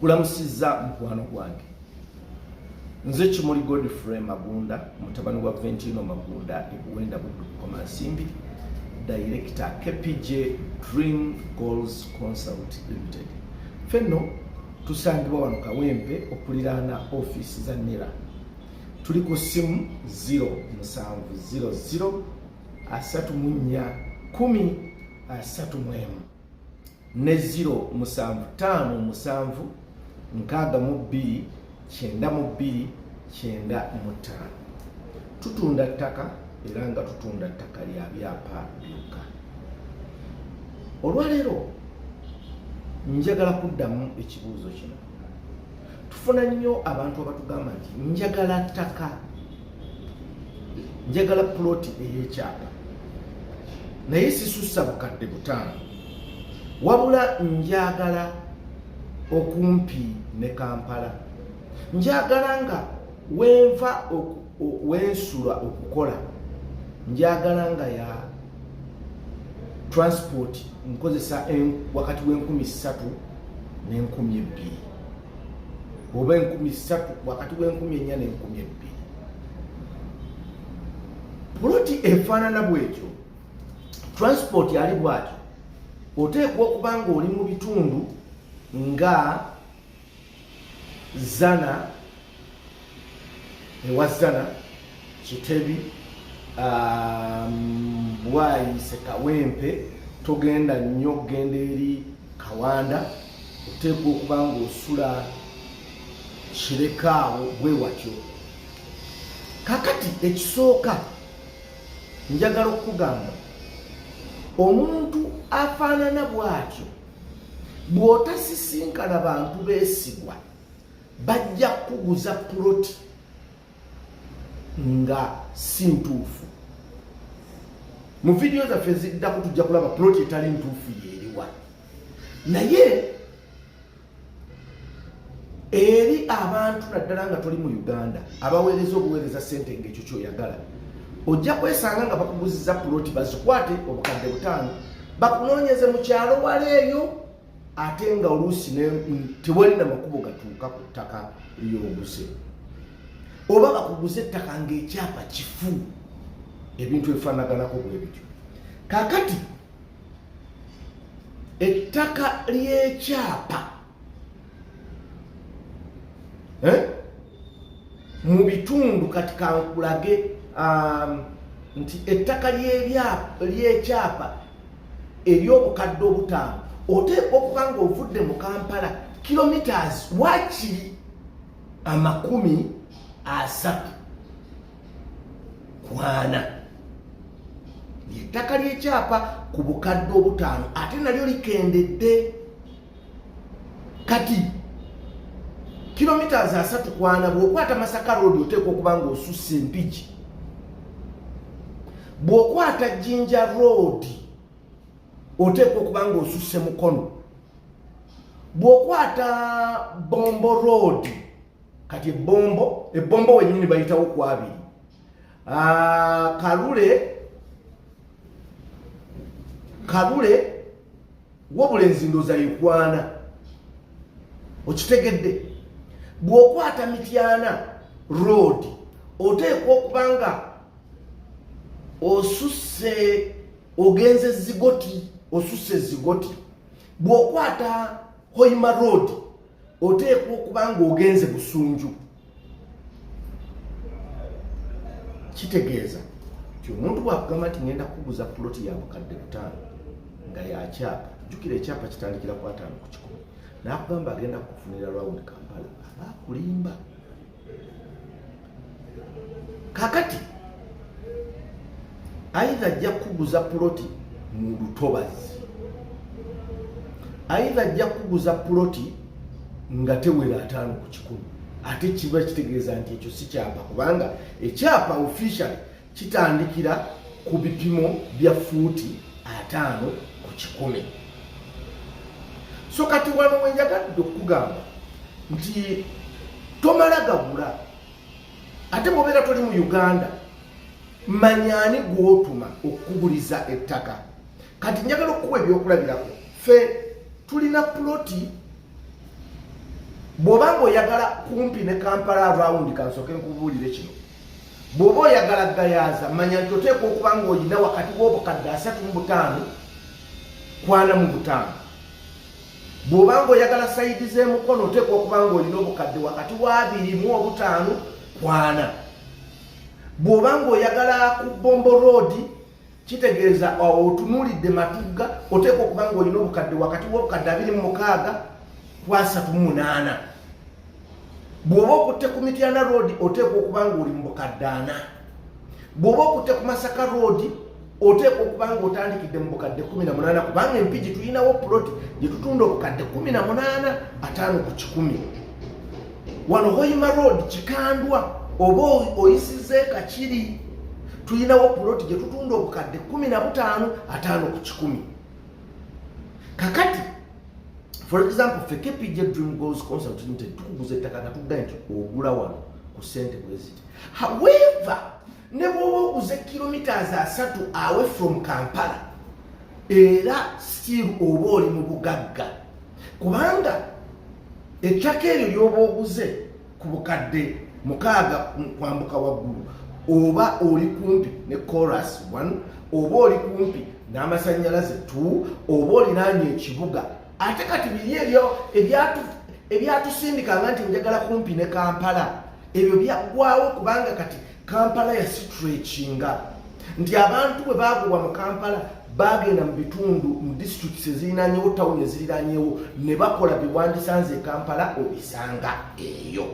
kulamusizza mukwano gwange nze kimuli godfrey magunda mutabani wa ventino magunda ekuwenda buddukukoma nsimbi dayirekita kpj dream goals consult limited fenno tusangibwa wano kawempe okuliraana ofiisi za nera tuli ku ssimu 0 musanvu 00 asatu mu nnya kumi asatu mu emu ne ziro musanvu taano musanvu nkaaga mu bbiri kyenda mu bbiri kyenda mu ttaano tutunda ttaka era nga tutunda ttaka lya byapa byokka olwaleero njagala kuddamu ekibuuzo kino tufuna nnyo abantu abatugamba nti njagala ttaka njagala puloti ey'ekyapa naye sisussa bukadde butaano wabula njagala okumpi ne kampala njagala nga wenva wensula okukola njagala nga ya transport nkozesa wakati w'enkumi ssatu n'enkumi ebbiri oba enkumi ssatu wakati w'enkumi ennya n'enkumi ebbiri puloti efaanana bwekyo transport ali bwatyo oteekwa okuba nga oli mu bitundu nga zana ewa zana kitebi um, bwayise kawempe togenda nnyo okugenda eri kawanda oteekwa okuba ngaosula kirekaawo bwe watyo kakati ekisooka njagala okukugamba omuntu afaanana bw'atyo bw'otasisinkana bantu beesigwa bajja kukuguza puloti nga si ntuufu mu vidiyo zaffe eziddako tujja kulaba puloti etali ntuufu yeeriwa naye eri abantu naddala nga toli mu uganda abaweereza obuweereza sente ngaekyo kyoyagala ojja kwesanga nga bakuguziza puloti bazikwate obukadde butaano bakunoonyeze mu kyalo wala eyo ate nga oluusi tewali na makubo gatuuka ku ttaka lyobuse oba bakuguza ettaka ngaekyapa kifu ebintu ebifanaganako bwebityo kakati ettaka ly'ekyapa eh? mu bitundu kati kankulage um, nti ettaka ly'ekyapa ery'obukadde obutaano oteekwa okuba nga ovudde mu kampala kilometres wakiri amakumi asatu kwana ettaka lyekyapa ku bukadde obutaano ate nalyo likendedde kati kilomitas asatu kwana bwokwata masaka road oteekwa okuba nga osussa empigi bwokwata jinja road oteekwa okuba nga osusse mukono bwokwata bombo road kati ebbombo ebbombo wenyini bayitawo ku abiri ah, kalule kalule wabula enzindoza yekwana okitegedde bw'okwata mityana road oteekwa okuba nga osusse ogenze zigoti osusse zigoti bw'okwata hoima road oteekwa okuba ng'ogenze busunju kitegeeza nti omuntu bwakugamba nti ngenda kuguza puloti ya bukadde butaano nga yakyapa jukira ekyapa kitandikira ku ataano ku kikumi nakugamba agenda kukufunira rawundi kampala aba akulimba kakati aidha ajja kukuguza puloti mu lutobazi aidha ajja kukuguza puloti nga tewera ataano ku kikumi ate kiba kitegeeza nti ekyo si kyapa kubanga ekyapa officially Kitandikira ku bipimo bya fuuti ataano ku kikumi. So kati wano wenjagadde okugamba nti tomala gagula ate mubeera toli mu Uganda manyani gwotuma okukuguliza ettaka kati njagala okukuwa ebyokulabirako fe tulina puloti bw'oba nga oyagala kumpi ne kampala around kansooke nkubuulire kino Bw'oba oyagala gayaaza, manya nti oteekwa okuba ng'olina wakati w'obukadde asatu mu butaano kwana mu butaano. Bw'oba ng'oyagala sayidi z'emukono, oteekwa okuba ng'olina obukadde wakati w'abiri mu obutaano kwana. Bw'oba ng'oyagala ku bombo roodi, kitegeeza otunuulidde matugga oteekwa okuba nga olina obukadde wakati w'obukadde abiri mu mukaaga ku asatu mu munaana bw'oba okutte ku mityana roodi oteekwa okuba nga oli mu bukadde ana bw'oba okutte ku masaka roodi oteekwa okuba nga otandikidde mu bukadde kumi na munaana kubanga empigi tulinawo puloti gye tutunda obukadde kumi na munaana ataano ku kikumi wano hoima road kikandwa oba oyisiza ekakiri tulinawo puloti gye tutunda obukadde kumi na butaano ataano ku kikumi kakati for example fe kpj dream goals concert nti tukuguza ettaka nga tudda nti ogula wano ku sente bweziti however ne bwoba oguze kilometres asatu away from kampala era still oba oli mu bugagga kubanga ettaka eryo lyoba oguze ku bukadde mukaaga kwambuka waggulu oba oli kumpi ne coras one oba oli kumpi n'amasannyalaze t oba olinaanya ekibuga ate kati biri ebyo ebyatusindikanga nti njagala kumpi ne kampala ebyo byaggwawo kubanga kati kampala yasitrekinga nti abantu bwe baagobwa mu kampala bagenda mu bitundu mu districts ezirinanyewo tawuni eziriranyewo ne bakola byewandisanze e kampala obisanga eyo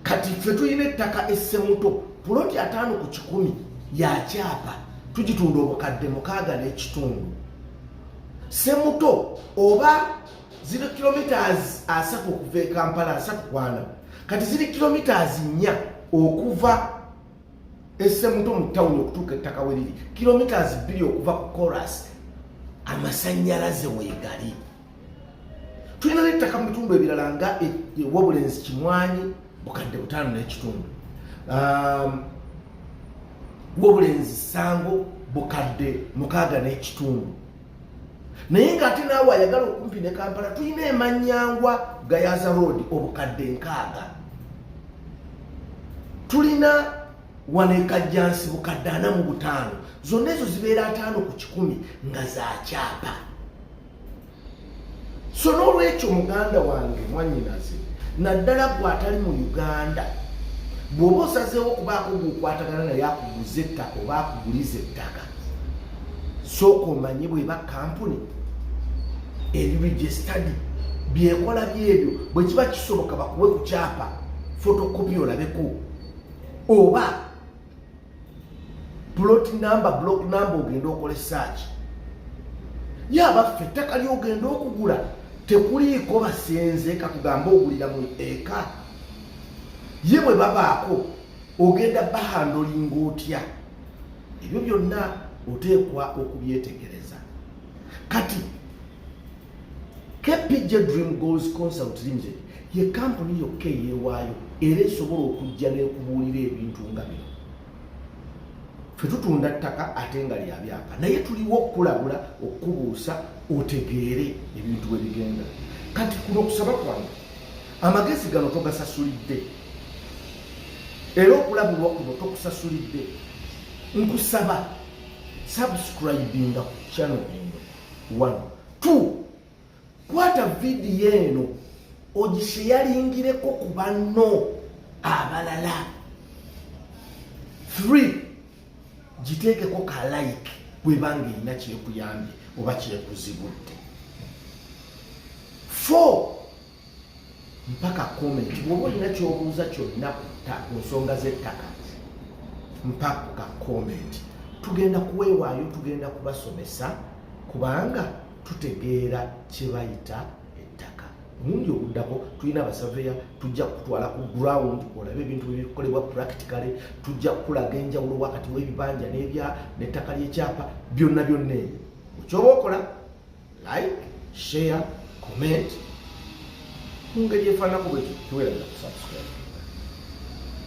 kati ffe tulina ettaka essemuto puloti ataano ku kikumi yakyapa tugitunda obukadde mukaaga n'ekitundu semuto oba ziri kilometres asatu okuva e kampala asatu kwana kati ziri kilometres nnya okuva esemuto mu tawuni okutuuka ettaka we liri kilometres bbiri okuva ku coras amasanyalaze wegali tulina nettaka mu bitundu ebirala nga e, e, wobulenzi kimwanyi bukadde butaano n'ekitundu um, wobulenzi sango bukadde mukaaga n'ekitundu naye ng'ate naawe ayagala okumpi ne kampala tulina emanyangwa gayaza road obukadde nkaaga tulina wano ekajjansi bukadde ana mu butaano zonna ezo zibeera ataano ku kikumi nga za kyapa so n'olwekyo muganda wange mwanyinaze naddala gwe atali mu uganda bw'oba osazeewo okubaako gweokwatagana naye akuguza ettaka oba akuguliza ettaka sooka omanye bweba kampuni ebiregistadi byekola byebyo bwe kiba kisoboka bakuwe ku kyapa fotokopi olabeko oba plot number block number ogenda okole search ye abaffe ettaka lyogenda okugula tekuliiko basenze katugambe ogulira mu eka ye bwe babaako ogenda bahandolinga otya ebyo byonna oteekwa okubyetegereza kati kpj dream goals consult limited ye kampuni yokka eyeewaayo era esobola okujja n'ekubuulira ebintu nga bino fe tutunda ttaka ate nga lya byapa naye tuliwo okukulabula okukubuusa otegeere ebintu bwe bigenda kati kuno okusaba kwange amagezi gano togasasulidde era okulabulwa kuno tokusasulidde nkusaba subscribinga ku channel eno one two kwata vidiyo eno ogiseyalingireko ku banno abalala three giteekeko ka like bwebanga erina kyekuyambye oba kyekuzibudde four mpaka comment bwoba olina kyobuuza kyonna ku nsonga z'ettaka mpaka ka comment tugenda kuweewaayo tugenda kubasomesa kubanga tutegeera kyebayita ettaka omundi oguddako tulina abasaveya tujja kutwala ku ground olabe ebintu byebikolebwa practically tujja kukulaga enjawulo wakati w'ebibanja n'ebya n'ettaka ly'ekyapa byonna byonna ebyo okyoba okola like share comment mu ngeri efaanako bwekyo tuweereza kusubscribe